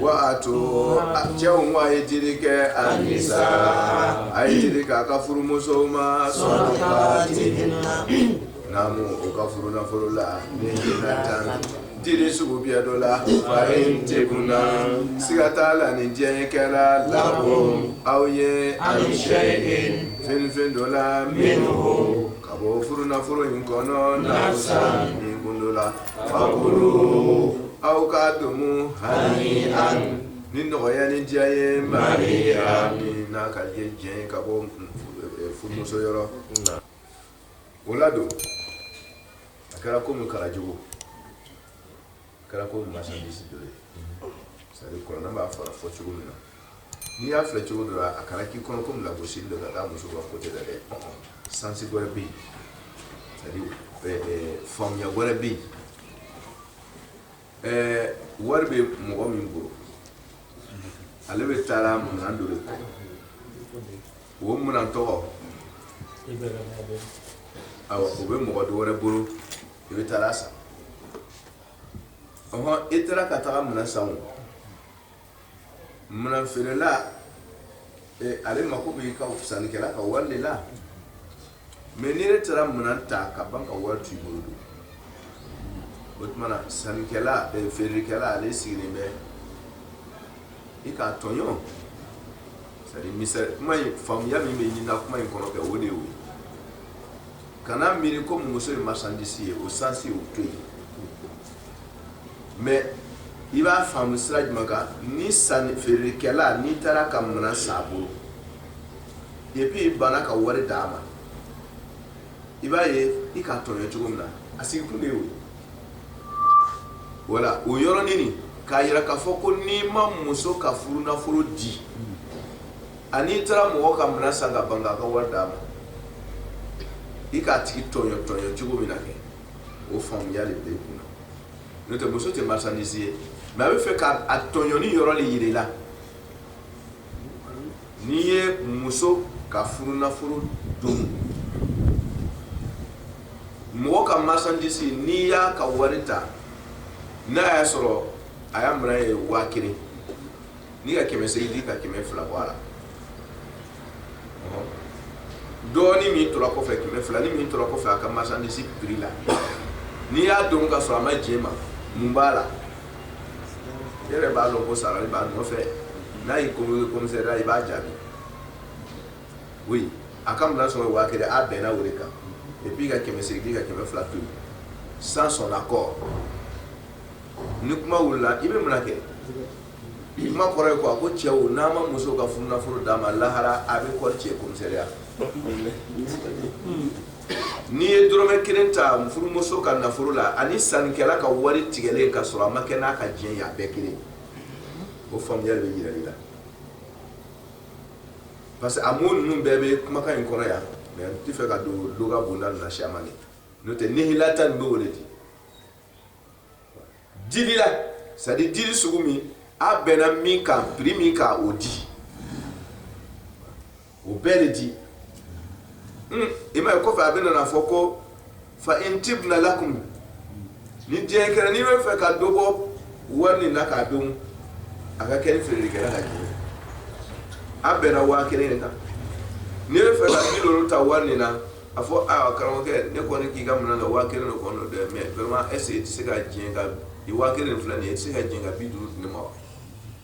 Wa to cɛw ko a ye jiri kɛ a sa a ye jiri k'a ka furumuso ma sɔrɔ na o ka furufolo la jiri sugu bɛ dɔ la fa in cɛ na siga t'a la ni diɲɛ kɛra labɔ aw ye a ni shɛ ye fɛnfɛn dɔ la min Ka bɔ furu nafolo in kɔnɔ nafsan kundola fakuluhu aw k'a domu hanian ni nɔgɔya ni diya ye marian n'a ka ye diɲɛ ka bɔ furumuso yɔrɔ o la don a kɛra komi kɛra jago kɛra ko marchandise dɔ ye c'est à dire kuranɛ b'a fɔra fɔ cogo min na n'i y'a filɛ cogo dɔ la a kana k'i kɔnɔ komi lagosili don ka taa muso ka kote la dɛ sansi wɛrɛ bɛ yen c'est à dire eh, eh, faamuya wɛrɛ bɛ yen eh, wari bɛ mɔgɔ min bolo ale bɛ taara minɛn dɔ de kɔ O minɛn tɔgɔ awɔ o bɛ mɔgɔ dɔ wɛrɛ bolo i bɛ taara a san i taara ka taga minɛn san minɛn feerela ale mako b'i ka sannikɛla ka wari de la mɛ n'i yɛrɛ taara minɛn ta ka ban ka wari t'i bolo don o tuma na sannikɛla eh, feerekɛla ale sigilen bɛ i k'a tɔɲɔ c'est à dire misali kuma in faamuya min bɛ ɲinina kuma in kɔnɔ kɛ o de y'o ye kana miiri ko muso ye marchandise ye o sansi o to yen mɛ i b'a faamu sira jumɛn kan ni sanni feerekɛla n'i taara ka minɛn san a bolo et puis i banna ka wari d'a ma i b'a ye i k'a tɔɲɔ cogo min na a sigi kun de y'o ye voilà o yɔrɔnin k'a yira k'a fɔ ko n'i ma muso ka furu nafolo di ani i taara mɔgɔ ka minɛn san ka ban k'a ka wari d'a ma i k'a tigi tɔɲɔ tɔɲɔ cogo min na kɛ o faamuya de bɛ kun na n'o tɛ muso tɛ marchandise ye mɛ a bɛ fɛ k'a tɔɲɔni yɔrɔ de yira i la n'i ye muso ka furu nafolo domu mɔgɔ ka marchandise n'i y'a ka wari ta n'a y'a sɔrɔ a ya minɛn ye waa kelen n'i ka kɛmɛ seegin di ka kɛmɛ fila bɔ a la dɔɔnin min tora kɔfɛ kɛmɛ fila ni min tora kɔfɛ a ka marchandise prix la n'i y'a domu ka sɔrɔ a ma jɛn ma mun b'a la yɛrɛ b'a dɔn ko sarali b'a nɔfɛ n'a y'i convoqué komisɛriya i b'a jaabi oui a ka minɛn sɔrɔ waa kelen a bɛnna o de kan et puis ka kɛmɛ seegin di ka kɛmɛ fila to yen sans son accord ni kuma wulila i bɛ mun na kɛ kuma kɔrɔ ye quoi ko cɛw n'aw ma muso ka furunafolo d'a ma lahara a bɛ kɔri cɛ komisɛriya N'i ye dɔrɔmɛ kelen ta furumuso ka nafolo la ani sannikɛla ka wari tigɛlen ka sɔrɔ a ma kɛ n'a ka diɲɛ ye a bɛɛ kelen o faamuya de bɛ jira i la parce que a mot ninnu bɛɛ bɛ kumakan in kɔnɔ yan mais n tɛ fɛ ka don loga bonda ninnu na siyaman de n'o tɛ nihilatan nin bɛ o de di dili la c'est à dire dili sugu min a bɛnna min kan prix min kan o di o bɛɛ de di hmm, i m'a ye kɔfɛ a bɛna na a fɔ ko fa in tibna lakum ni diɲɛ kɛra n'i bɛ fɛ ka dɔ bɔ wari nin na k'a dun a ka kɛ ni feerekɛla ka diɲɛ a bɛnna waa kelen de kan n'i bɛ fɛ ka bi duuru ta wari nin na A fɔ aa karamɔgɔkɛ ne kɔni k'i ka minɛ na waa kelen de kɔnɔ dɛ mais vraiment est-ce que i tɛ se ka diɲɛ ka i waa kelen filɛ nin ye i tɛ se ka diɲɛ ka bi duuru di n ma wa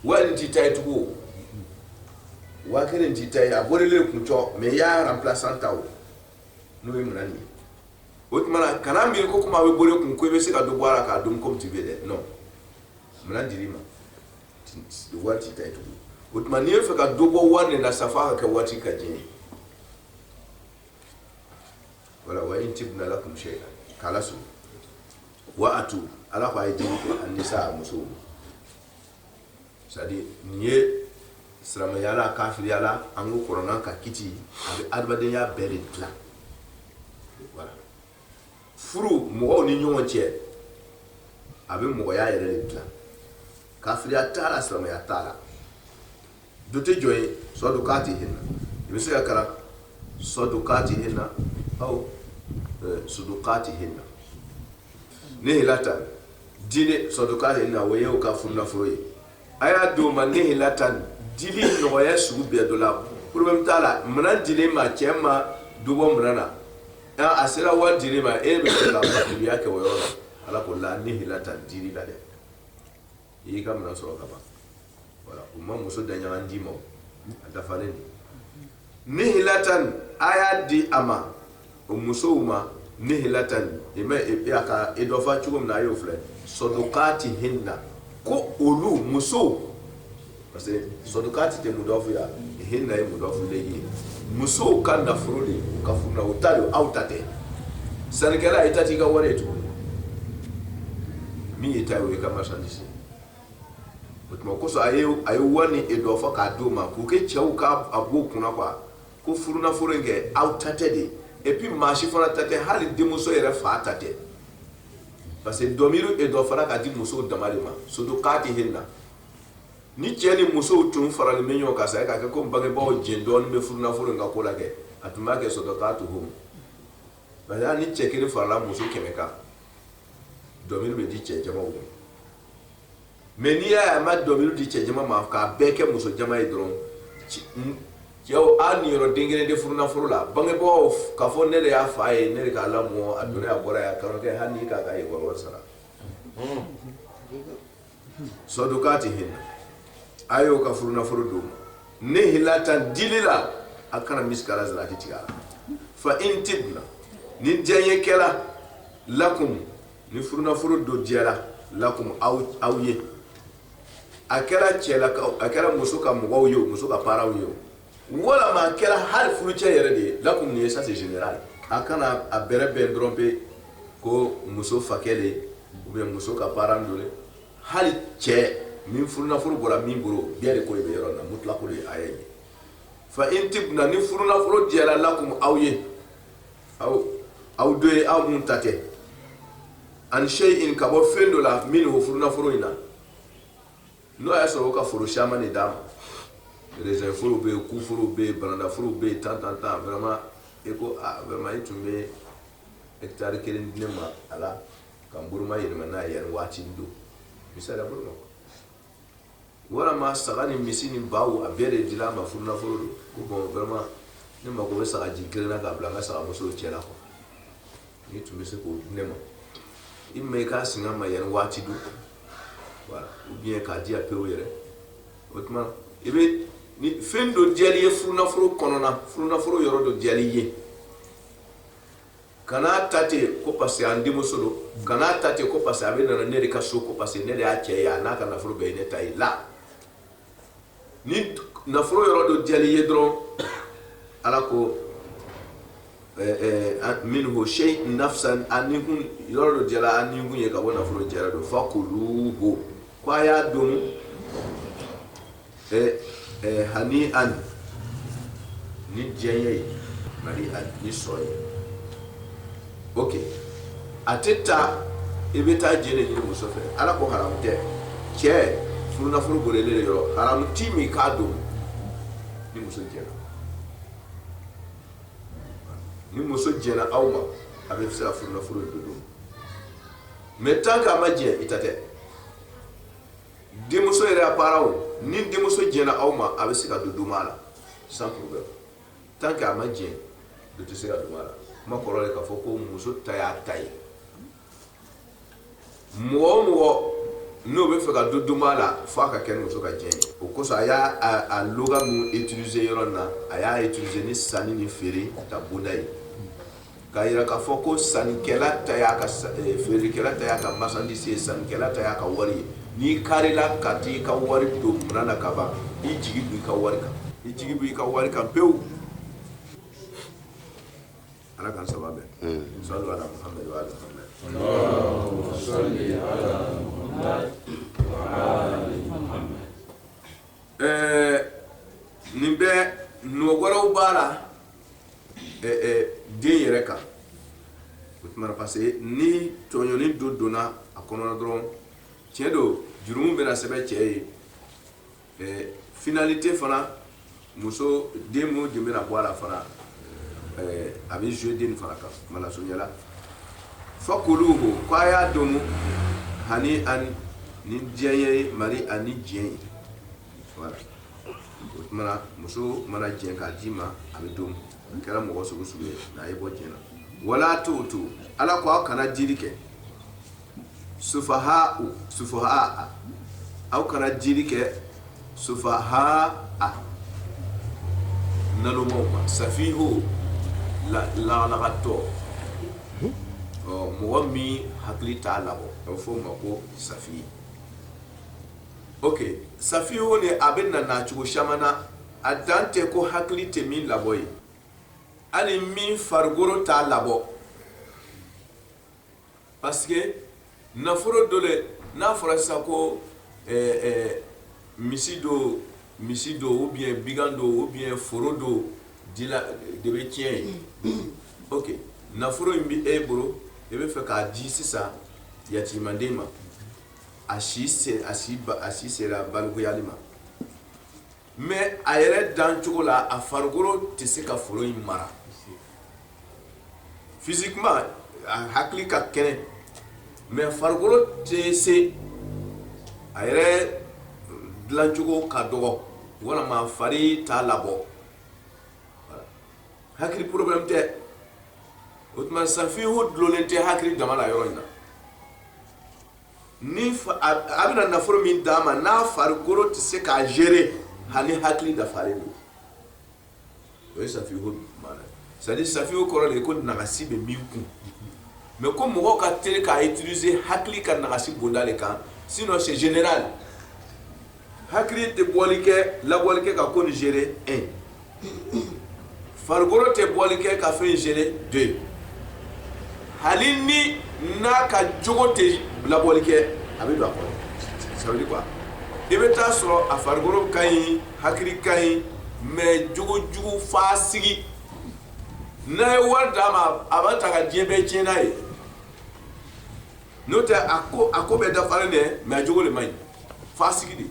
wari t'i ta ye tugun waa kelen t'i ta ye a bolilen kun cɔ mɛ y'a remplaçant ta o n'o ye minɛn nin ye o tuma kana miiri ko kuma bɛ boli kun ko i bɛ se ka dɔ bɔ a la k'a dun comme tu veux dɛ non minɛn dira i ma wari t'i ta ye tugun o tuma n'i' fɛ ka dɔ bɔ wari nin na sa fo ka kɛ waritigi ka diɲɛ ye voilà fa in tibna lakum shay'an kala su wa atu ala ko ay jini ko an nisa muso c'est à dire n'i ye silamɛya la kafiriya la an ko kuranɛ ka kiti a bɛ adamadenya bɛɛ de dilan voilà furu mɔgɔw ni ɲɔgɔn cɛ a bɛ mɔgɔya yɛrɛ de dilan kafiriya t'a la silamɛya t'a la du tɛ jɔ ye sɔdukati hinna i bɛ se k'a kalan sɔdukati hinna aw sudukati hinna nihilatan dili sɔdukati hinna o y'u ka furu nafolo ye a y'a di o ma nihilatan dili nɔgɔya sugu bɛɛ dɔ la problème t'a la minɛn dilen ma cɛ ma dɔ bɔ minɛn na aa a sera wari dilen ma e bɛ se ka fatigiya kɛ o yɔrɔ la ala ko la nihilatan dili la dɛ i y'i ka minɛn sɔrɔ ka ban voilà u ma muso daɲaga d'i ma a dafalen don nihilatan a y'a di a ma o musow ma nihilatan i mɛ e, e, a ka e dafa cogo min na a y'o filɛ sɔdukati hinna ko olu musow parce que sɔdukati mudɔfu ye hinna ye mudɔfu ilayhi musow ka nafolo de u ka furu la u ta don aw ta tɛ sannikɛla i ta t'i ka wari ye tuguni min y'i ta ye o y'i ka marchandise ye o tuma kosɔn a ye a ye wari nin idɔfa k'a d'o ma k'u kɛ cɛw ka a b'o kunna quoi ko furunafolo in kɛ aw ta tɛ dɛ et puis maa si fana ta tɛ hali denmuso yɛrɛ fa ta tɛ parce que dɔmiri idɔfara ka di musow dama de ma sɔdukatihinna ni cɛ ni musow tun faralen bɛ ɲɔgɔn kan sa k'a kɛ ko bangebaaw jɛ dɔɔnin bɛ furunafolo ka ko la kɛ a tun b'a kɛ sɔdukatuhum ba ni cɛ kelen farala muso kɛmɛ kan dɔmiri bɛ di cɛ jama ma mais n'i y'a a ma dɔmiri di cɛ jama ma k'a bɛɛ kɛ muso jama ye dɔrɔn cɛw aw niyɔrɔ den kelen tɛ furunafolo la bangebaaw ka fɔ ne de y'a fa ye ne de k'a lamɔ a donna a bɔra' kɔrɔkɛ hali k'a ka école sara sɔdukatihinna a y'u ka furunafolo d'u ma nihlatan dili la a kana misikala zarati tigɛ a la fa in tibna ni diya ye kɛra lakum ni furunafolo dɔ diyara lakum aw ye a kɛra cɛlakaw a kɛra muso ka mɔgɔw ye muso ka parents ye walama a kɛra hali furucɛ yɛrɛ de ye lakum nin ye ça c'est général a kana a bɛrɛbɛn dɔrɔn pe ko muso fakɛ le ou bien muso ka parent dɔ le hali cɛ min furunafolo bɔra min bolo bɛɛ de ko de bɛ yɔrɔ in na mutlako de ye aya ye fa in tibna ni furunafolo diyara lakum aw ye aw aw dɔ ye aw min ta tɛ an shay'in ka bɔ fɛn dɔ la minhu furunafolo in na n'o y'a sɔrɔ u ka foro caman de d'a ma raisin foro bɛ yen kuforo bɛ yen banana foro bɛ yen tan tan tan vraiment e ko ah vraiment e tun bɛ hectare kelen di ne ma a la ka n boloma yɛlɛma n'a ye yanni waati min don misali la boloma walama saga ni misi ni baw a bɛɛ de dila a ma furunafolo don ko bon vraiment ne mako bɛ sagajigi kelen na k'a bila n ka sagamusow cɛ la quoi N'i tun bɛ se k'o di ne ma i ma i k'a singa n ma yan waati dɔ ou bien k'a di a pewu yɛrɛ o tuma i bɛ ni fɛn dɔ diyal'i ye furunafolo kɔnɔna furunafolo yɔrɔ dɔ diyal'i ye kana ta ten ko parce que an denmuso don kana ta ten ko parce que a bɛna na ne de ka so ko parce que ne de y'a cɛ ye a n'a ka nafolo bɛɛ ye ne ta ye la ni nafolo yɔrɔ dɔ diyal'i ye dɔrɔn ala ko minhu shay nafsan a nikun yɔrɔ dɔ diyala a nikun ye ka bɔ nafolo jara don fakuluhu ko a y'a dun hani'an ni diya ye mari'an ni sɔrɔ ye ok a tɛ taa i bɛ taa jɛn de ɲini muso fɛ ala ko haram tɛ cɛ furunafolo bolilen yɔrɔ haram t'i ma k'a domu ni muso jɛnna ni muso jɛnna aw ma a bɛ se ka furunafolo dɔ domu mais tant k'a ma jɛn i ta tɛ denmuso yɛrɛ a baaraw ni denmuso jɛnna aw ma a bɛ se ka dɔ domu a la sans problème tant que a ma jɛn dɛ i tɛ se ka dɔ domu a la kuma kɔrɔ de k'a fɔ ko muso ta y'a ta ye mɔgɔ o mɔgɔ n'o bɛ fɛ ka dɔ domu a la fo a ka kɛ ni muso ka jɛn ye o kosɔn a y'a loga min utiliser yɔrɔ na a y'a utiliser ni sanni ni feere ta bonda ye Ka jira k'a fɔ ko sankɛla ta y'a ka feerekɛla ta y'a ka masadise ye sankɛla ta y'a ka wari ye n'i karila ka i ka wari don kunna na ka ban i jigi b i ka wari kan i jigi b' i ka wari kan pewu ala ka saba sa ɛɛ nin bɛ nɔgɔkɔrɔ wɛrɛw b'a la den yɛrɛ kan o tuma parce que ni tɔɲɔni dɔ donna a kɔnɔ dɔrɔn tiɲɛ don jurumu bɛna sɛbɛn cɛ ye ɛɛ finalité fana muso den minnu de bɛna bɔ a la fana ɛɛ a bɛ jouer den fana kan mawla azza wa jalla fakuluhu ko a y'a domu hanian ni diɲɛ ye marian ni diɲɛ ye o tuma na muso mana jɛn k'a d'i ma a bɛ domu a kɛra mɔgɔ sugu sugu ye n'a ye bɔ jɛn na wala tuutu ala ko aw kana dili kɛ sufaha sufaha aw kana dili kɛ sufaha nalomaw ma safihu lagalagatɔ ɔ mɔgɔ min hakili t'a labɔ a bɛ fɔ o ma ko safi ok safihu de a bɛ na cogo caman na a dan tɛ ko hakili tɛ min labɔ ye hali min farikolo t'a labɔ parce que nafolo dɔ de n'a fɔra sisan ko misi dɔ misi dɔ ou bien bɛgan dɔ ou bien foro dɔ de bɛ tiɲɛ ye ok nafolo in bɛ e bolo i bɛ fɛ k'a di sisan yatimanden ma a si sera balikuyali ma mais a yɛrɛ dan cogo la a farikolo tɛ se ka foro in mara physiquement a hakili ka kɛnɛ mais farikolo tɛ se a yɛrɛ dilancogo ka dɔgɔ walima fari t'a labɔ hakili problème tɛ o tuma safihu dulonnen tɛ hakili dama la yɔrɔ in na a bɛna nafolo min d'a ma n'a farikolo tɛ se k'a gérer hali hakili dafalen don o ye safihu c'est à dire safihu kɔrɔ de ko nagasi bɛ min kun mais ko mɔgɔ ka teli k'a utiliser hakili ka nagasi bonda de kan sinon c'est général hakili tɛ bɔli kɛ labɔli kɛ ka ko ni gérer un farikolo tɛ bɔli kɛ ka fɛn gérer deux hali ni n'a ka jogo tɛ labɔli kɛ a bɛ don a kɔnɔ ça veut dire quoi i bɛ taa sɔrɔ a farikolo ka ɲi hakili ka ɲi mais jogo jugu faasigi n'a ye wari d'a ma a b'a ta ka diɲɛ bɛɛ tiɲɛ n'a ye n'o tɛ a ko a ko bɛɛ dafalen dɛ mais a jogo de man ɲi faasigi de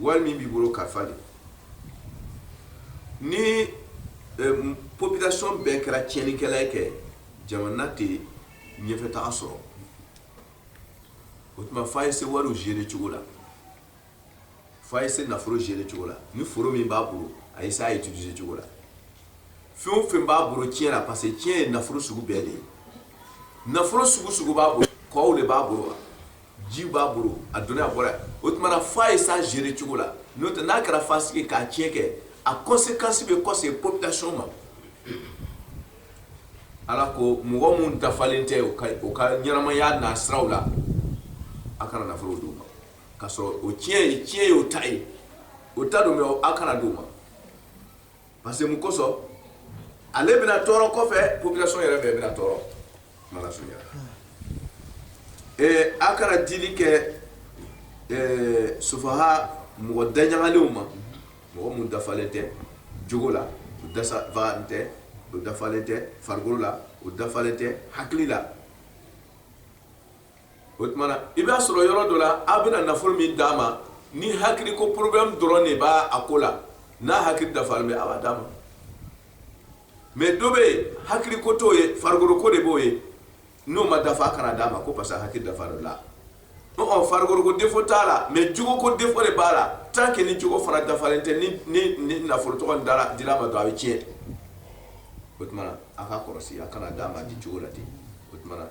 wari min b'i bolo kalifa de ni eh, population bɛɛ kɛra tiɲɛnikɛla ye kɛ jamana tɛ ɲɛfɛtaga sɔrɔ o tuma f'a ye se wariw gérer cogo la f'a ye se nafolo gérer cogo la ni foro min b'a bolo a ye se a utiliser cogo la fɛn o fɛn b'a bolo tiɲɛ la parce que tiɲɛ ye nafolo sugu bɛɛ de ye nafolo sugu sugu b'a bolo kɔw de b'a bolo wa ji b'a bolo a donna a bɔra o tumana f'a ye s'a gérer cogo la n'o tɛ n'a kɛra faasigi k'a tiɲɛ kɛ a conséquence bɛ kɔse population ma ala ko mɔgɔ minnu dafalen tɛ u ka u ka ɲɛnamaya n'a siraw la a kana nafolo d'u ma k'a sɔrɔ o tiɲɛ ye tiɲɛ ye o ta ye o ta don mais a kana d'u ma Parce que mun kosɔn ale bɛna tɔɔrɔ kɔfɛ population yɛrɛ bɛɛ bɛna tɔɔrɔ kuma lasurunya la ee a kana dili kɛ ee sufaha mɔgɔ daɲagalenw ma mɔgɔ mun dafalen tɛ jogo la u dafalen tɛ u dafalen tɛ farikolo la u dafalen tɛ hakili la o tumana i b'a sɔrɔ yɔrɔ dɔ la aw bɛna nafolo min d'a ma ni hakili ko problème dɔrɔn de b'a a ko la n'a hakili dafalen bɛ a b'a d'a ma mais dɔ bɛ yen hakili ko t'o ye farikolo ko de b'o ye n'o ma dafa a kana d'a ma ko parce que hakili dafalen o la ɔ farikolo ko défaut t'a la mais jogo ko défaut de b'a la tant que ni jogo fana dafalen tɛ ni ni ni nafolo tɔgɔ nin dara dila ma dɔrɔn a bɛ tiɲɛ o tumana a ka kɔlɔsi a kana d'a ma di jogo la ten o tumana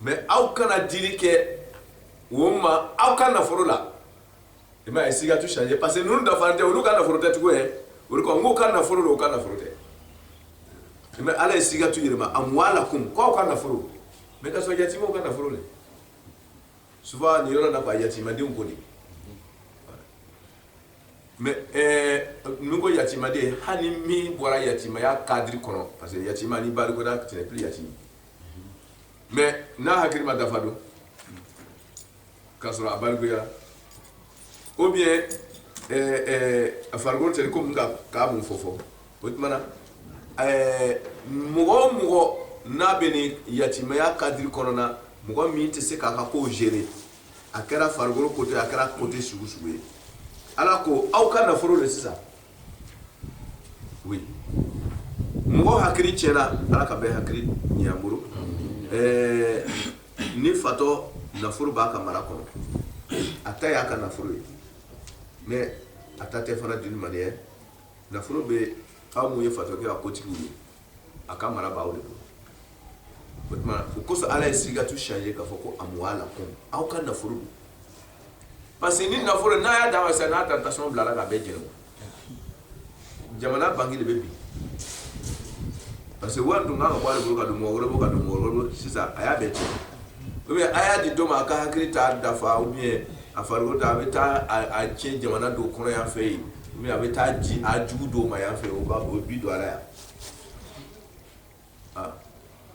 mais aw kana dili kɛ o ma aw ka nafolo la i ma ye a ye sigatu changer parce que ninnu dafa tɛ olu ka nafolo tɛ tugu ye olu ko n'u ka nafolo don u ka nafolo tɛ mais ala ye sigatu yɛlɛma amwalakum k'aw ka nafolo mais k'a sɔrɔ yatimaw ka nafolo de souvent nin yɔrɔ la quoi yatimadenw ko de mais ninnu ko yatimaden hali min bɔra yatimaya cadre kɔnɔ parce que yatima n'i balikuyara tu n'es plus yatima mais n'a hakili ma dafa dun k'a sɔrɔ a balikuyara ou bien a farikolo tɛ ko k'a mun fɔ fɔ o tuma na mɔgɔ o mɔgɔ n'a bɛ nin yatimaya cadre kɔnɔna na mɔgɔ min tɛ se k'a ka ko gérer a kɛra farikolo côté a kɛra côté sugu sugu ye ala ko aw ka nafolo de sisan mɔgɔ hakili cɛnna ala ka bɛɛ hakili ɲɛ a bolo ni fatɔ nafolo b'a ka mara kɔnɔ a ta y'a ka nafolo ye mais a ta tɛ fana d'une manière nafolo bɛ aw ye fatɔ kɛ a kotigi ye a ka mara b'aw de bolo o tuma o kosɔn ala ye sigatu changer k'a fɔ ko amwalakum aw ka nafolo don parce que ni nafolo n'a y'a d'a ma sisan n'a taara tasuma bil'a la k'a bɛɛ jeni jamana banki de bɛ bin parce que wari dun kan ka bɔ ale bolo ka don mɔgɔ wɛrɛ bolo ka don mɔgɔ wɛrɛ bolo sisan a y'a bɛɛ cɛn ou bien a y'a di dɔ ma a ka hakili t'a dafa ou bien a farikolo ta a bɛ taa a tiɲɛ jamana dɔw kɔnɔ yan fɛ yen ou bien a bɛ taa di a jugu dɔw ma yan fɛ o b'a o bi don a la yan ah.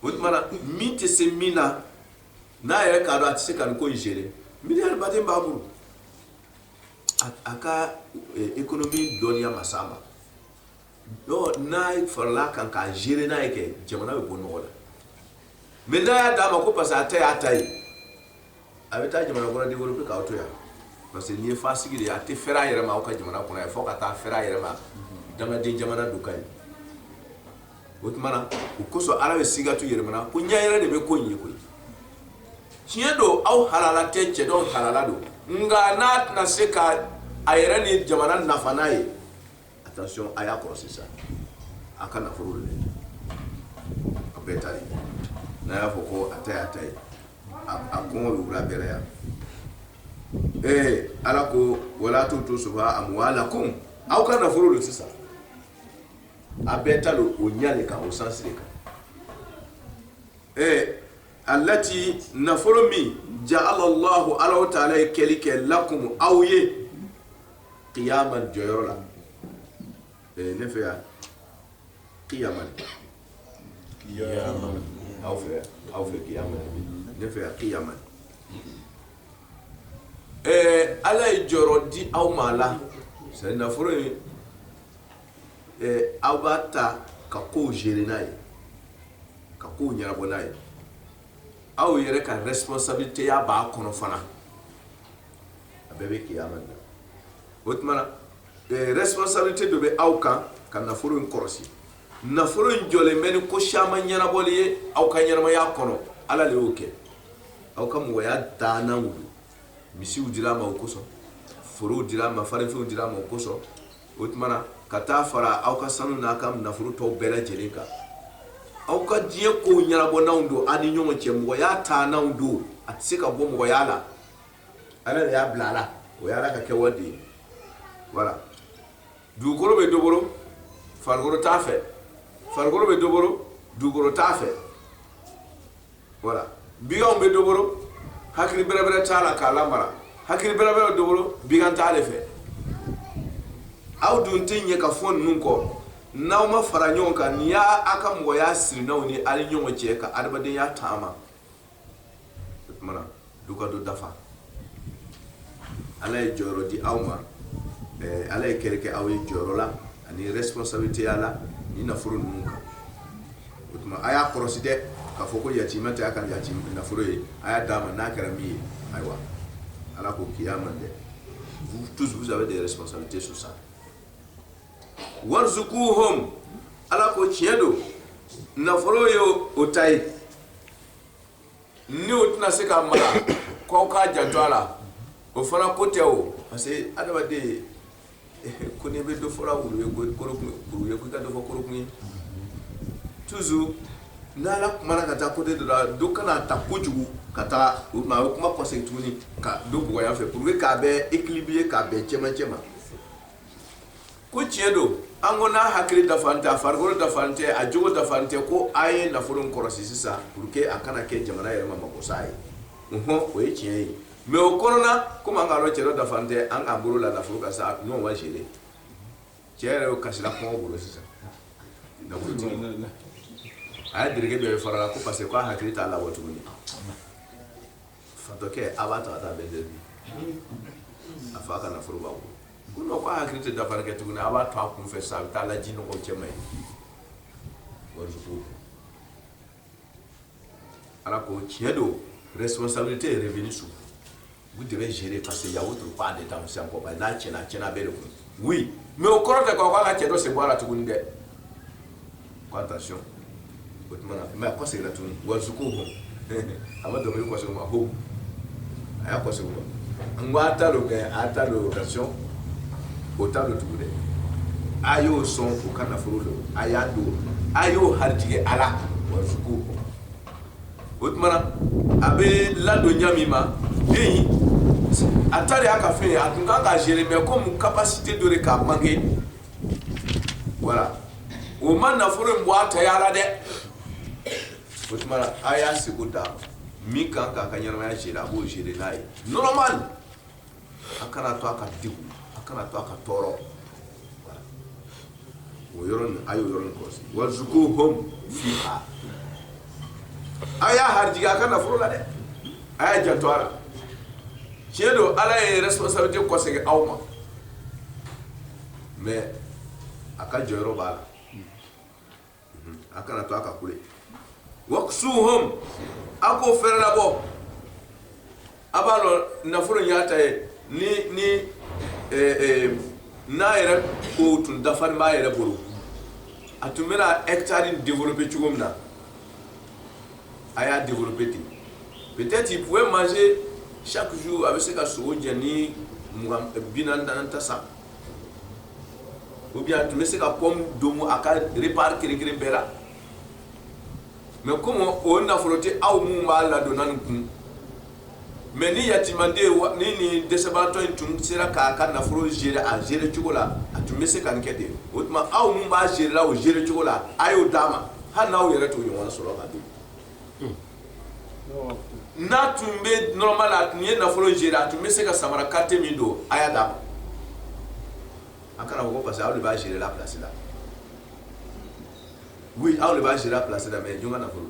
o tuma na min tɛ se min na n'a yɛrɛ k'a dɔn a tɛ se ka nin ko in gérer miliyari ba tan b'a bolo a ka ekonomi eh, dɔnniya ma s'a ma n'a farala kan k'a gérer n'a y'a kɛ jamana bɛ bɔ nɔgɔ la mais n'a y'a d'a ma ko parce que a ta y'a ta ye a bɛ taa jamana kɔnɔ développer k'aw to yan parce que n'i ye fasiki de ye a tɛ fɛrɛ a yɛrɛ ma aw ka jamana kɔnɔ yan fo ka taa fɛrɛ a yɛrɛ ma dangaden jamana dɔ kan yen o tuma na o kosɔn ala bɛ sigatu yɛlɛmana ko ɲɛ yɛrɛ de bɛ ko in ye koyi tiɲɛ don aw halala tɛ cɛ dɔw halala don nka n'a tɛna se ka a yɛrɛ ni jamana nafa n'a ye attention aya kɔrɔ sisan a ka nafolo de a bɛɛ ta n'a y'a fɔ ko a ta a ta ye a kɔngɔ wula bɛɛ yan ee ala ko wala tutu sufaha amwalakum aw ka nafolo de sisan a bɛɛ ta don o ɲɛ de kan o sens de kan ee allati nafolo min ja'ala lahu ala ta'ala ye kɛli kɛ lakum aw ye kiyama jɔyɔrɔ la ne fɛ yan kiyama aw fɛ aw fɛ kiyama ne fɛ yan kiyama ɛɛ ala ye jɔyɔrɔ di aw ma là c'est nafolo ye aw b'a ta ka kow gérer n'a ye ka kow ɲɛnabɔ n'a ye aw yɛrɛ ka responsabilité ya b'a kɔnɔ fana a bɛɛ bɛ kiyama de la o tuma na eh, responsabilité dɔ bɛ aw kan ka nafolo in kɔlɔsi nafolo in jɔlen bɛ ni ko caman ɲɛnabɔli ye aw ka ɲɛnamaya kɔnɔ ala de y'o kɛ aw ka mɔgɔya daana wuli misiw dir'a ma o kosɔn forow dir'a ma farinfɛnw dir'a ma o kosɔn o tuma na ka taa fara aw ka sanu n'a ka nafolo tɔw bɛɛ lajɛlen kan aw ka diɲɛ ko ɲɛnabɔ n'aw don aw ni ɲɔgɔn cɛ mɔgɔya taa n'aw don a tɛ se ka bɔ mɔgɔya la ala de y'a bila a la o y'ala ka kɛwale ye voilà dugukolo bɛ dɔ bolo farikolo t'a fɛ farikolo bɛ dɔ bolo dugukolo t'a fɛ voilà biganw bɛ dɔ bolo hakili bɛrɛbɛrɛ t'a la k'a lamara hakili bɛrɛbɛrɛ dɔ bolo bigan t'a de fɛ aw dun tɛ ɲɛ ka fɔ ninnu kɔ n'aw ma fara ɲɔgɔn kan n'i y'a a ka mɔgɔya siri n'aw ni ali ɲɔgɔn cɛ ka adamadenya taama o tumana dɔ ka dɔ dafa ala ye jɔyɔrɔ di aw ma ala ye kɛrɛkɛ aw ye jɔyɔrɔ la ani responsabilité ya la ni nafolo ninnu kan o tuma a y'a kɔlɔsi dɛ k'a fɔ ko yatima tɛ y'a ka ya nafolo ye a y'a d'a ma n'a kɛra min ye ayiwa ala ko kiyaman dɛ vous tous vous avez des responsabilités sur ça warzukuhum ala ko tiɲɛ don nafolo ye o ta ye ni o tɛna se ka mara k'aw k'a janto a la o fana ko tɛ o parce que adamaden ko n'i bɛ dɔ fɔla wulu ye ko kolokun ye kuru ye ko i ka dɔ fɔ kolokun ye toujours n'ala kumana ka taa côté dɔ la dɔ kana ta kojugu ka taa o tuma a bɛ kuma kɔsegin tuguni ka dɔ bugɔ yan fɛ pour que k'a bɛɛ équilibrer k'a bɛn cɛmancɛ ma ko tiɲɛ don an ko n'a hakili dafan tɛ a farikolo dafan tɛ a jogo dafan tɛ ko a ye nafolo in kɔlɔsi sisan pour que a kana kɛ jamana yɛrɛ ma magosa ye nhɔn o ye tiɲɛ ye mais o kɔnɔna komi an k'a dɔn cɛ dɔ dafan tɛ an k'an bolo la nafolo kan sa n'o ma gérer cɛ yɛrɛ y'o kasira kɔngɔ bolo sisan nafolotigi a ye dereke dɔ ye farala ko parce que k'a hakili t'a la wa tuguni Fatɔkɛ a b'a to a taa bɛn dɛmɛ a fa ka nafolo b'a bolo ko hakili tɛ dafafarikɛ tuguni a b'a to a kun fɛ sa a bɛ taa ji nɔgɔ cɛ ye ala ko tiɲɛ don responsabilité est revenue sur vous devez gérer parce qu'il y a o don k'a de da kɔ n'a tiɲɛna a bɛɛ de kun mais o kɔrɔ tɛ k' ka cɛ dɔ sen bɔ a la tuguni dɛ Ko attention o tuma mais a ko seginna tuguni warzukuhum a ma dɔnkili waso ma ko a y'a waso n ko a ta don kɛ a ta don occasion o ta don tugu dɛ a y'o sɔn o ka nafolo don a y'a don a y'o harijigɛ a la warzukuhum o tuma a bɛ ladon ɲa min ma den a ta de y'a ka fɛn ye a tun kan k'a gérer mais comme capacité dɔ de k'a manqué voilà o ma nafolo in bɔ a taya la dɛ o tuma a y'a seko d'a ma min kan k'a ka ɲɛnamaya gérer a b'o gérer n'a ye normal a kana to a ka degun a kana to a ka tɔɔrɔ o yɔrɔ nin a y'o yɔrɔ nin kɔlɔsi warzukuhum fiha a y'a harijigɛ a ka nafolo la dɛ a y'a janto a la tiɲɛ don ala ye responsabilité kɔsegin aw ma mais a ka jɔyɔrɔ b'a la a kana to a ka kule waksuhum a k'o fɛrɛlabɔ a b'a dɔn nafolo in y'a ta ye ni ni n'a yɛrɛ ko tun dafalen b'a yɛrɛ bolo a tun bɛna hectare développer cogo min na a y'a développer ten peut être il pouvait manger chaque jour a bɛ se ka sogo jɛni bi naani ta san ou bien a tun bɛ se ka pomme domu a ka repas kelen kelen bɛɛ la mais comme o nafolo tɛ aw minnu b'a ladonna nin kun mais ni yatiimanden ni ni dɛsɛbaatɔ in tun sera k'a ka nafolo gérer a gérer cogo la a tun bɛ se ka nin kɛ ten o tuma aw minnu b'a gérer la o gérer cogo la a y'o d'a ma hali n'aw yɛrɛ t'o ɲɔgɔn sɔrɔ ka don n'a tun bɛ normal a tun ye nafolo gérer a tun bɛ se ka samara qualité min don a y'a d'a ma a kana fɔ ko parce que aw de b'a gérer la place la aw de b'a gérer la place la mais jɔn ka nafolo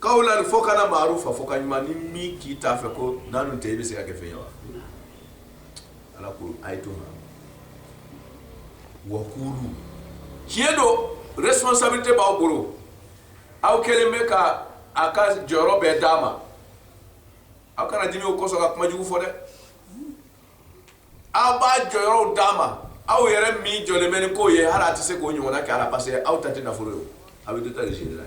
kawlan fɔkan maarufa fɔkan ɲuman ni min k'i t'a fɛ ko n'an dun tɛ i bɛ se ka kɛ fɛn ye wa ala ko a ye to ma wa kuulu tiɲɛ don responsabilité b'aw bolo aw kɛlen bɛ ka a ka jɔyɔrɔ bɛɛ d'a ma aw kana dimi o kosɔn ka kuma jugu fɔ dɛ aw b'a jɔyɔrɔw d'a ma aw yɛrɛ min jɔlen bɛ ni ko ye hali a tɛ se k'o ɲɔgɔnna kɛ a la parce que aw ta tɛ nafolo ye aw bɛ dɔ ta de gérer n'a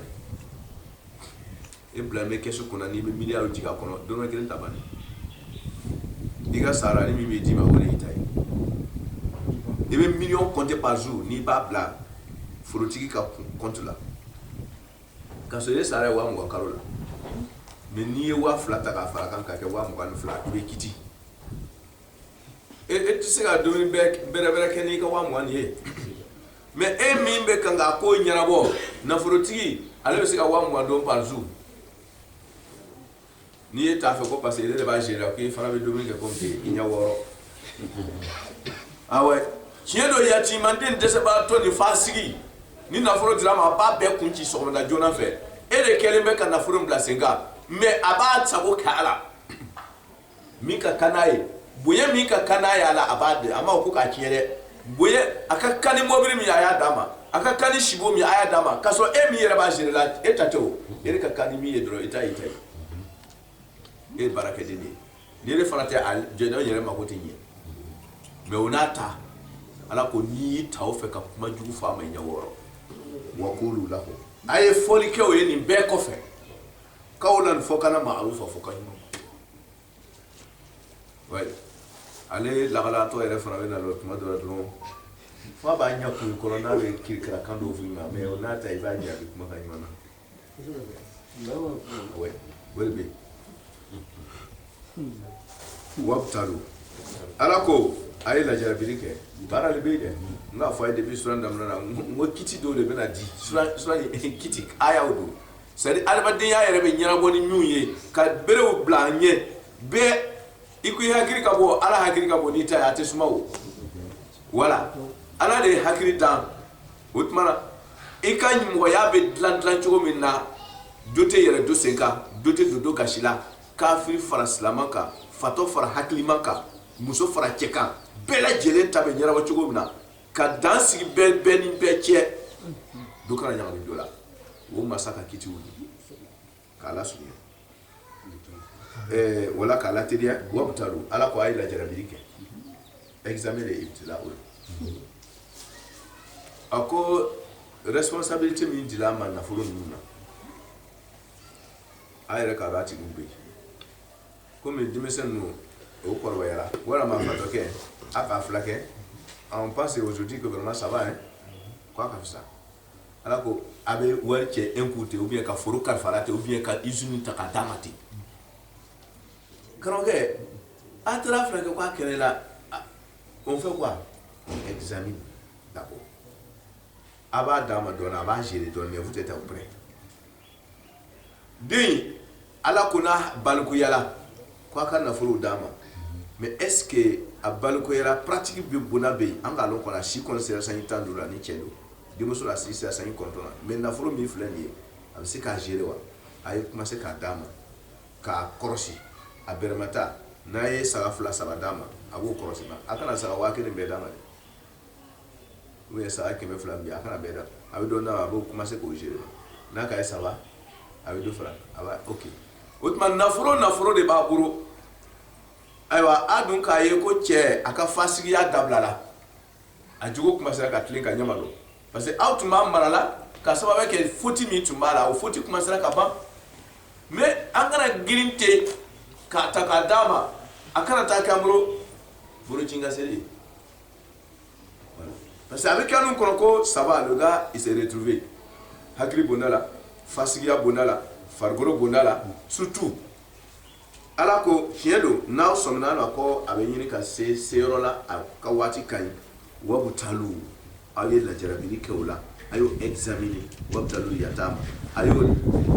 ye e bila n bɛ kɛsu kunna n'i bɛ miliyariw jigin a kɔnɔ dɔrɔmɛ kelen ta banni i ka sarani min bɛ d'i ma o de y'i ta ye i bɛ miliyɔn compter par jour n'i b'a bila nafolotigi ka compte la k'a sɔrɔ e sara ye waa mugan kalo la mais n'i ye waa fila ta k'a fara kan k'a kɛ waa mugan ni fila i bɛ kiti e tɛ se ka dumuni bɛrɛ kɛ n'i ka waa mugan ye mais e min bɛ kan ka ko ɲɛnabɔ nafolotigi ale bɛ se ka waa mugan dun par jour ni e t'a fɔ ko parce que e de b'a gérer k'i fana bɛ dumuni kɛ ko i ɲɛ b'o rɔ ah ouais tiɲɛ don jaati manden dɛsɛbatɔ nin fasigi ni nafolo dir'a ma a b'a bɛɛ kun ci sɔgɔmada joona fɛ e de kɛlen bɛ ka nafolo bila sen kan mais a b'a sago kɛ a la min ka kan n'a ye bonya min ka kan n'a ye a la a b'a di a ma ko k'a tiɲɛ dɛ bonya a ka kan ni mɔbili min a y'a d'a ma a ka kan ni sibon min a y'a d'a ma k'a sɔrɔ e min yɛrɛ b'a gérer la e ta tɛ o e ka kan ni min ye dɔrɔn e ta y'i ta ye e ye baarakɛden de ye ni ne fana tɛ a jɛɲɔgɔn yɛrɛ mako tɛ ɲɛ mais o n'a ta ala ko n'i y'i ta o fɛ ka kuma jugu fɔ a ma ɲɛ b'o rɔ wa qulu lahum a ye fɔli kɛ o ye nin bɛɛ kɔfɛ qawlan fɔkan na ma'rufa fɔkan ɲuman ale lagalatɔ yɛrɛ fana bɛ na dɔrɔn tuma dɔ dɔrɔ fa b'a ɲɛ kun kɔrɔ n'a bɛ kirikira kan dɔw f'i ma mais o n'a ta i b'a ɲɛbɛn kumakan ɲuman na o de bɛ wabutalu ala ko a ye lajarabili kɛ baara de bɛ yen dɛ n k'a fɔ a ye depuis suran daminɛ na n ko kiti dɔw de bɛna di suran suran kiti ayaw don c'est à dire adamadenya yɛrɛ bɛ ɲɛnabɔ ni ninnu ye ka berew bila an ɲɛ bɛɛ i ko i hakili ka bon ala hakili ka bon n'i ta ye a tɛ suma o wala ala de ye hakili dan o tuma na i ka mɔgɔya bɛ dilan dilan cogo min na dɔ tɛ yɛlɛ dɔ sen kan dɔ tɛ don dɔ gasi la kafiri fara silaman kan fatɔ fara hakilima kan muso fara cɛ kan bɛɛ lajɛlen ta bɛ ɲɛnabɔ cogo min na ka dan sigi bɛɛ bɛɛ ni bɛɛ cɛ dɔ kana ɲagami dɔ la o masa ka kitiw di k'a lasurunya ɛɛ wala k'a lateliya wabutalu ala ko a ye lajarabili kɛ examen de ibtila o ye a ko responsabilité min dil'a ma nafolo ninnu na a yɛrɛ k'a dɔn a tigiw bɛ yen kɔmi denmisɛn ninnu o kɔrɔbayara walima a fatɔkɛ a k'a filakɛ on pense aujourd'hui que vraiment ça va hein k'a ka fisa ala ko a bɛ wari cɛ un coup ten ou bien ka foro kalifa a la ten ou bien ka usine ta k'a d'a ma ten karamɔgɔkɛ a taara filakɛ k'a kɛnɛyala on fait quoi on examine d'abord a b'a d'a ma dɔɔnin a b'a gérer dɔɔnin mais vous êtes auprès den ala ko n'a balikuyala ko a ka nafolo d'a ma mais est-ce que a balikuyala pratique bɛ bon a bɛ yen an k'a lɔn ko n'a si kɔni sera sanji tan duuru la ni cɛ don denmuso la a si sera sanji kɔnɔntɔn la mais nafolo min filɛ nin ye a bɛ se k'a gérer wa a ye commencer k'a d'a ma k'a kɔrɔsi a bɛrɛma ta n'a ye saga fila saba d'a ma a b'o kɔrɔsi a kana saga waa kelen bɛɛ d'a ma dɛ u ye saga kɛmɛ fila bi a kana bɛɛ da a bɛ dɔ da a b'o commencer k'o gérer n'a k'a ye ça va a bɛ dɔ fara a b'a ok o tuma nafolo nafolo de b'a bolo ayiwa a dun k'a ye ko cɛ a ka fasigiya dabilala a jogo commencera ka tilen ka ɲɛma don parce que aw tun b'a mara la ka sababu kɛ foti min tun b'a la o foti commencera ka ban mais an kana girin ten k'a ta k'a d'a ma a kana taa kɛ an bolo bɔrɔ ci ka seri parce que a bɛ kɛ anw kɔnɔ ko ça va le gars il se retrouve hakili bonda la fasigiya bonda la farikolo bonda la surtout ala ko tiɲɛ don n'aw sɔmina a la ko a bɛ ɲini ka se se yɔrɔ la a ka waati ka ɲi wabtalu aw ye lajarabili kɛ o la a y'o examiner wabtalul yatama a y'o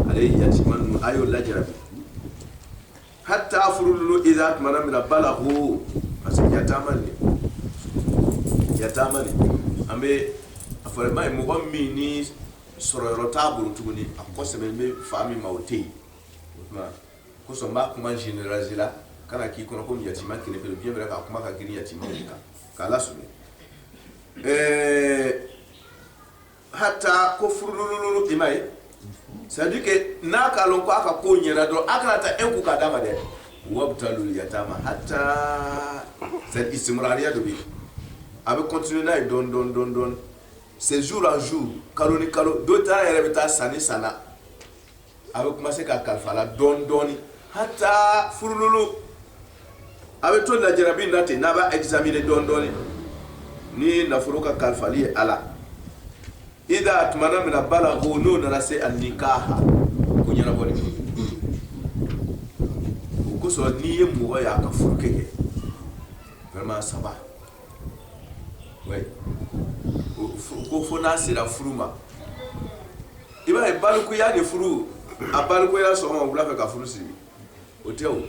ale yatima ninnu a y'o lajarabi hatta furululu idha tuma min na balaghu parce que yatama nin yatama nin an bɛ a fɔra ba ye mɔgɔ min ni sɔrɔyɔrɔ t'a bolo tuguni a kɔ sɛmɛnen bɛ fa min ma o tɛ yen o tuma kosɔn n b'a kuma généraliser la kana k'i kɔnɔ ko yatima kelenpe lo bien vrai k'a kuma ka girin yatima de kan k'a lasurunya ɛɛ hatta ko furulululu i m'a ye c'est à dire que n'a k'a lɔn ko a ka ko ɲɛna dɔrɔn a kan'a ta un coup k'a d'a ma dɛ wabtalul yatama hatta c'est istimrariya de bi a bɛ continuer n'a ye dɔɔni dɔɔni dɔɔni dɔɔni c'est jour en jour kalo ni kalo dɔ ta yɛrɛ bɛ taa san ni san na A bɛ commencer k'a kalifa a la dɔɔnin dɔɔnin hatta furululu a bɛ to lajarabi la ten n'a b'a examiner dɔɔnin dɔɔnin ni nafolo ka kalifali ye a la idha a tuma min balaghu n'o nana se annikaha ko ɲɛnabɔ o kosɔn n'i ye mɔgɔ y'a ka furu kɛ que ça va ko fo n'a sera furu ma i b'a ye balikuya de furu a balikuya sɔgɔma wula fɛ ka furu siri o tɛ o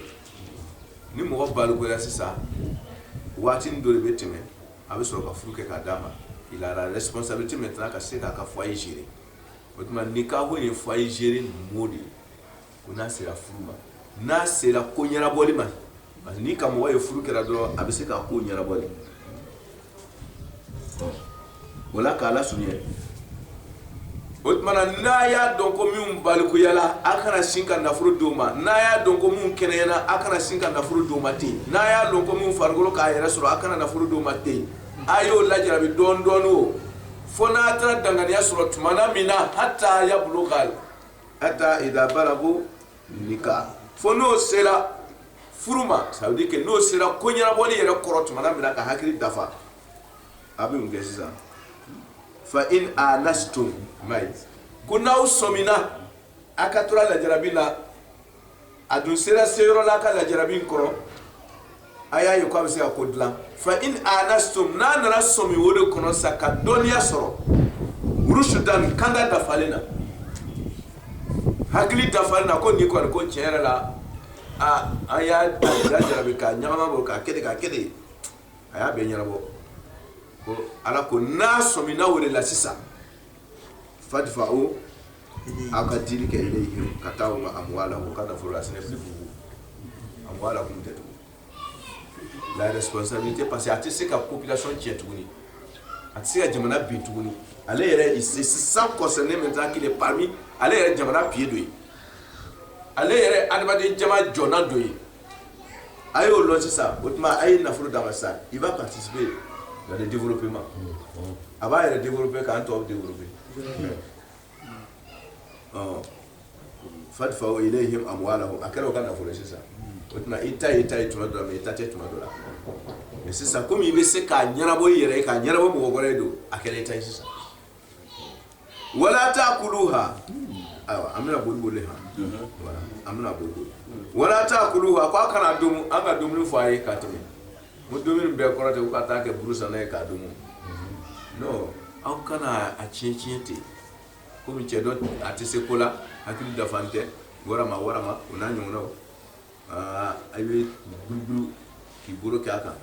ni mɔgɔ balikuya sisan waati dɔ de bɛ tɛmɛ a bɛ sɔrɔ ka furu kɛ k'a d'a ma il a la responsabilité maintenant ka se k'a ka foyer gérer o tuma nikahu ye foyer gérer mot de ye ko n'a sera furu ma n'a sera ko ɲɛnabɔli ma parce que n'i ka mɔgɔ ye furu kɛra dɔrɔn a bɛ se k'a ko ɲɛnabɔ de o la k'a lasurunya o tuma na n'a y'a dɔn ko minnu balikuyala a kana sin ka nafolo d'o ma n'a y'a dɔn ko minnu kɛnɛyana a kana sin ka nafolo d'o ma ten n'a y'a dɔn ko minnu farikolo k'a yɛrɛ sɔrɔ a kana nafolo d'o ma ten a y'o lajarabi dɔɔni dɔɔni o fo n'a taara danganiya sɔrɔ tuma na min na hatta yabluga hatta idha balagu nikah fo n'o sera furu ma ça veut dire que n'o sera ko ɲɛnabɔli yɛrɛ kɔrɔ tuma min na ka hakili dafa a bɛ mun kɛ sisan fa in anastum mais ko n'aw sɔmina a ka tora lajarabi la a dun sera seyɔrɔ la a ka lajarabi in kɔrɔ a y'a ye ko a bɛ se ka ko dilan fa in anastum n'a nana sɔmi o de kɔnɔ sa ka dɔnniya sɔrɔ rushdan kanda dafalen na hakili dafalen na ko nin kɔni ko tiɲɛ yɛrɛ la a an y'a lajarabi k'a ɲagama bɔ k'a kɛ k'a kɛ a y'a bɛɛ ɲɛnabɔ ko ala ko n'a sɔmina o de la sisan fatifa o aw ka di kɛ ka taa ma a bɔ a la ka da fɔlɔ a sɛnɛ a bɔ a la kun tɛ tugun laresali tɛ parce que a tɛ se ka kobilati cɛ tuguni a tɛ se ka jamana bi tuguni ale yɛrɛ sisan kɔsɔn ne min taa kelen pami ale yɛrɛ jamana bi don ye ale yɛrɛ adamaden jama jɔna don ye a y'o dɔn sisan o tuma a ye nafolo d'a ma sa il va participer dans le développement a b'a yɛrɛ développer k'an tɔw développer fadfa'u ilayhim amwalahum a kɛra o ka nafolo sisan o tuma i ta i ta ye tuma dɔ la i ta tɛ tuma dɔ la mais sisan komi i bɛ se k'a ɲɛnabɔ i yɛrɛ ye k'a ɲɛnabɔ mɔgɔ wɛrɛ ye donc a kɛra i ta ye sisan wala ta'kuluha ayiwa an bɛna boli boli han an bɛna boli boli wala ta'kuluha a ko a kana domu an ka dumuni fɔ a ye ka tɛmɛ ko dumuni bɛɛ kɔrɔ tɛ ko ka taa kɛ buru sanna ye k'a domu non aw kana a tiɲɛ tiɲɛ ten kɔmi cɛ dɔ a tɛ se ko la hakili dafan tɛ wara warama o n'a ɲɔgɔn aa a bɛ guruguru k'i bolo kɛ a kan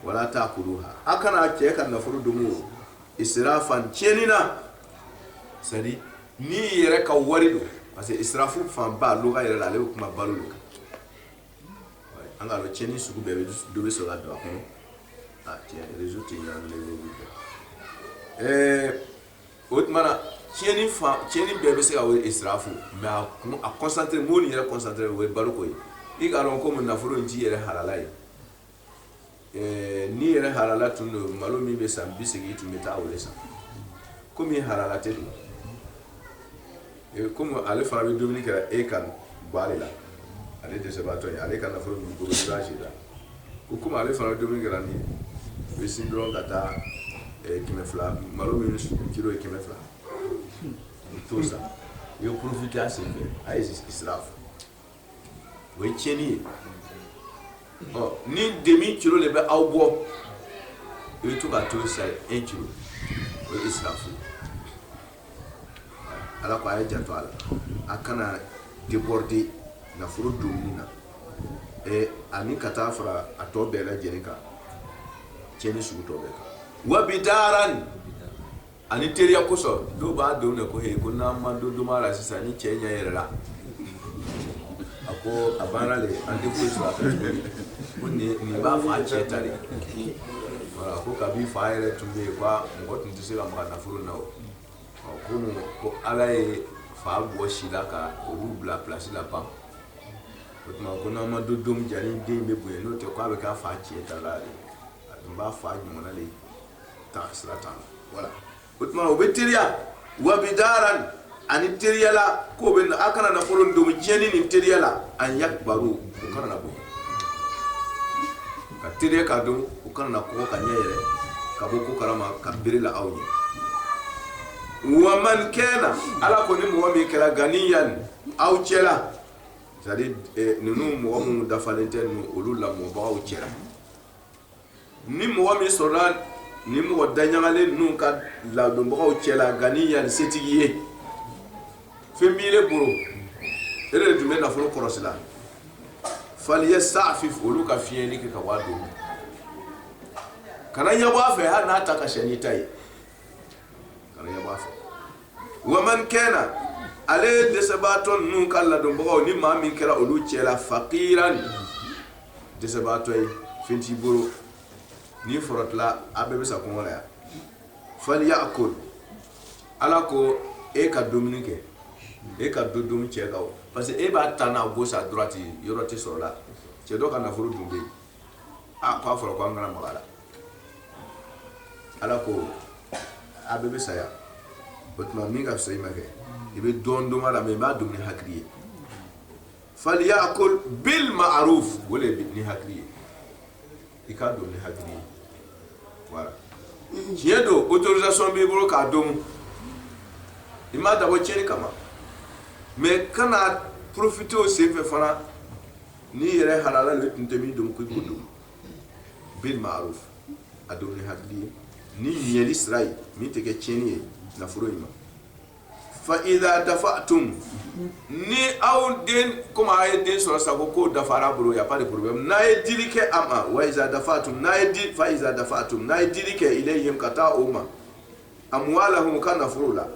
wala ta'kuluha a kana cɛ ka nafolo domu o israfan tiɲɛni na c'est à dire n'i yɛrɛ ka wari don parce que israfu fanba loga yɛrɛ la ale bɛ kuma balo de kan an k'a dɔn tiɲɛni sugu bɛɛ dɔ bɛ sɔrɔ ka don a kɔnɔ a tiɲɛ raison tɛ ɲɛnamini ɛɛ o tuma na tiɲɛni fan tiɲɛni bɛɛ bɛ se ka wele israfu mais a kun a concentré mot nin yɛrɛ concentré o ye baloko ye i k'a dɔn komi nafolo in t'i yɛrɛ halala ye ɛɛ n'i yɛrɛ halala tun don malo min bɛ san bi seegin i tun bɛ taa o de san komi halala tɛ dun kɔmi ale fana bɛ dumuni kɛra e ka ba la ale dɛsɛbaatɔ ye ale ka nafolo si la ko kɔmi ale fana bɛ dumuni kɛra nin i bɛ sin dɔrɔn ka taa kɛmɛ fila malo min kilo ye kɛmɛ fila t'o san i bɛ profiter a senfɛ a ye israfu o ye tiɲɛni ye ɔ ni demi kilo de bɛ aw bɔ i bɛ to ka t'o san un kilo o ye israfu ala ko a ye janto a la a kana déborder nafolo dumuni na ɛ ani ka taa fara a tɔ bɛɛ lajɛlen kan tiɲɛni sugu tɔ bɛɛ kan wa bidaran ani teriya kosɔn dɔw b'a dun de ko he ko n'an ma dɔ dun a la sisan ni cɛ ɲɛ yɛrɛla a ko a banna le an tɛ foyi sɔrɔ a fɛ tuguni ko nin nin b'a fa cɛ ta de voilà ko kabi fa yɛrɛ tun bɛ yen ko a mɔgɔ tun tɛ se ka maga nafolo na o ɔ ko mun ko ala ye fa bɔ si la ka olu bila pilasi la pan o tuma ko n'an ma dɔ dun jani den bɛ bonya n'o tɛ ko a bɛ k'a fa cɛ ta la de a tun b'a fa ɲɔgɔnna de ye ta sira ta voilà o tuma o bɛ teriya wa bidaran ani teriya la k'o bɛ a kana nafolo dun tiɲɛni ni teriya la an yakbaru u kana na bonya ka teriya k'a dun u kana na kɔgɔ ka ɲɛ yɛrɛ ka bɔ ko kalama ka bere la aw ɲɛ wa man kana ala ko ni mɔgɔ min kɛra ganiyan aw cɛla c'est à dire ninnu mɔgɔ minnu dafalen tɛ ninnu olu lamɔbagaw cɛla ni mɔgɔ min sɔrɔla ni mɔgɔ daɲagalen ninnu ka ladonbagaw cɛ la ganiyan setigi ye fɛn b'ile bolo e de tun bɛ nafolo kɔlɔsi la falyastafif olu ka fiɲɛɲɛni kɛ ka waga don kana ɲɛ bɔ a fɛ hali n'a ta ka ca n'i ta ye wa man kana ale ye dɛsɛbaatɔ ninnu ka ladonbagaw ni maa min kɛra olu cɛ la fakiran dɛsɛbaatɔ ye fɛn t'i bolo ni fɔra a bɛɛ bɛ sa kɔngɔ la falyakul ala ko e ka dumuni kɛ e ka dɔ dun cɛ kan parce que e b'a taa na gauche à droite yɔrɔ tɛ sɔrɔ la cɛ dɔ ka nafolo dun bɛ yen aa k'a fɔra ko an kana maga a la ala ko a bɛɛ bɛ saya o tuma min ka fisa i ma kɛ i bɛ dɔɔni dun a la mais i b'a dun ni hakili ye faliyakul bil ma'ruf o de ye ni hakili ye i k'a dun ni hakili ye voilà tiɲɛ don autorisation b'i bolo k'a dun i m'a dabɔ tiɲɛni kama mais kana profiter o senfɛ fana n'i yɛrɛ halala de tun tɛ min dun ko k'o dun bil ma'ruf a dun ni hakili ye ni ɲɛli sira ye min tɛ kɛ tiɲɛni ye nafolo in ma fa iza dafa'tum ni aw den komi a ye den sɔrɔ sa ko dafara bolo y a pas de problème n'a ye dili kɛ a ma wa iza dafa'tum n'a ye fa iza dafa'tum n'a ye dili kɛ ilayhim ka taa o ma amwalahum o ka nafolo la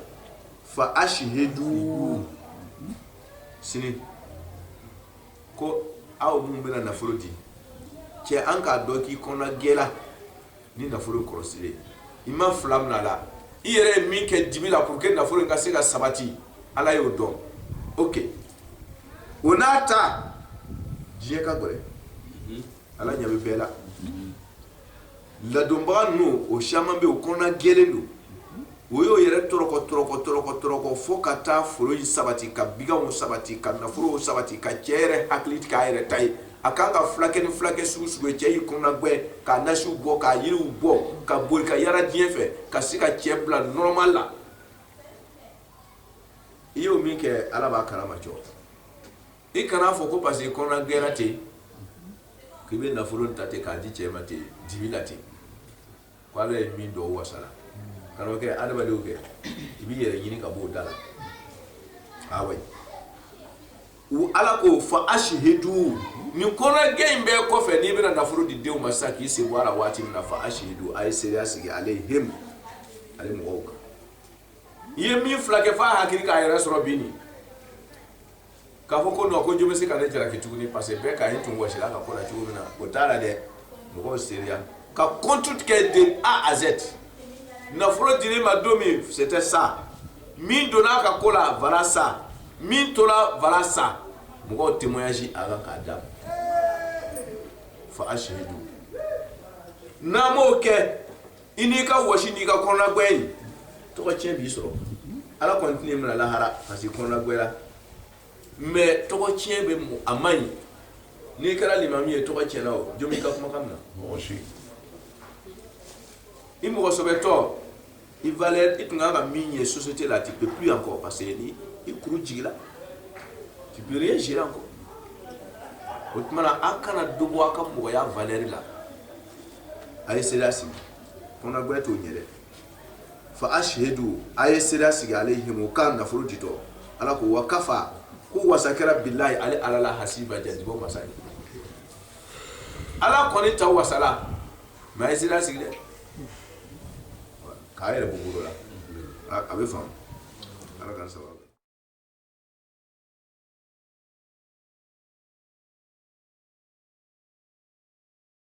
fa ashidu sini ko aw minnu bɛna nafolo di cɛ an k'a dɔn k'i kɔnɔna gɛla ni nafolo kɔlɔsili ye i ma fila mina a la i yɛrɛ ye min kɛ dibi la pour que nafolo in ka se ka sabati ala y'o dɔn ok o n'a ta diɲɛ ka gɛlɛn ala ɲɛ bɛ bɛɛ la ladonbaga ninnu o caman bɛ yen o kɔnɔna gɛlen don o y'o yɛrɛ tɔrɔkɔ tɔrɔkɔ tɔrɔkɔ tɔrɔkɔ fo ka taa foro in sabati ka biganw sabati ka nafolow sabati ka cɛ yɛrɛ hakili k'a yɛrɛ ta ye a kan k'a filakɛ ni filakɛ sugu sugu ye cɛ y'i kɔnɔna gwɛ ka nasiw bɔ ka yiriw bɔ ka boli ka yara diɲɛ fɛ ka se ka cɛ bila normal la i y'o min kɛ ala b'a kalama cɔ i kana fɔ ko parce que kɔnɔna gɛra ten k'i bɛ nafolo ta ten k'a di cɛ ma ten dibi la ten ko ala ye min dɔn o wasala kana o kɛ adamadenw kɛ i b'i yɛrɛ ɲini ka b'o da la awayi u ala ko fa ashidu nin kɔnɔna gɛ in bɛɛ kɔfɛ n'i bɛna nafolo di denw ma sisan k'i sen bɔ a la waati min na fa ashidu a ye seereya sigi alayhim ale mɔgɔw kan i ye min filakɛ f'a hakili k'a yɛrɛ sɔrɔ bi nin k'a fɔ ko non ko jɔn bɛ se ka ne jalaki tuguni parce que bɛɛ k'a ye i tun wɔsila a ka ko la cogo min na o t'a la dɛ mɔgɔw seereya ka compte kɛ de A à Z nafolo dir'i ma don min c'était ça min donna a ka ko la voilà ça min tora voilà ça mɔgɔw témoignage avant k'a d'a ma fa ashidu n'an m'o kɛ i n'i ka wa n'i ka kɔnɔguɛ in tɔgɔ cɛn b'i sɔrɔ ala kɔni t'i minɛ lahara parce que kɔnɔguɛya mais tɔgɔ cɛn bɛ a ma ɲi n'i kɛra limami ye tɔgɔ cɛnna o jɔn i ka kumakan na i mɔgɔsɛbɛbɛtɔ i i tun ka min ye société la tu peux plus encore parce que i kuru jigila tu peux rien gérer encore o tuma an kana dɔ bɔ a ka mɔgɔya valeur la a ye seere sigi kɔnɔguɛ t'o ɲɛ dɛ fa ashidu a ye seere sigi alayhim k'a nafolo ditɔ ala ko wa kafa ko wasa kɛra bilayi ale ala la hasiba jatebɔ masa ye ala kɔni ta wasala mais a ye seere sigi dɛ k'a yɛrɛ buguro la a bɛ faamu ala ka sababu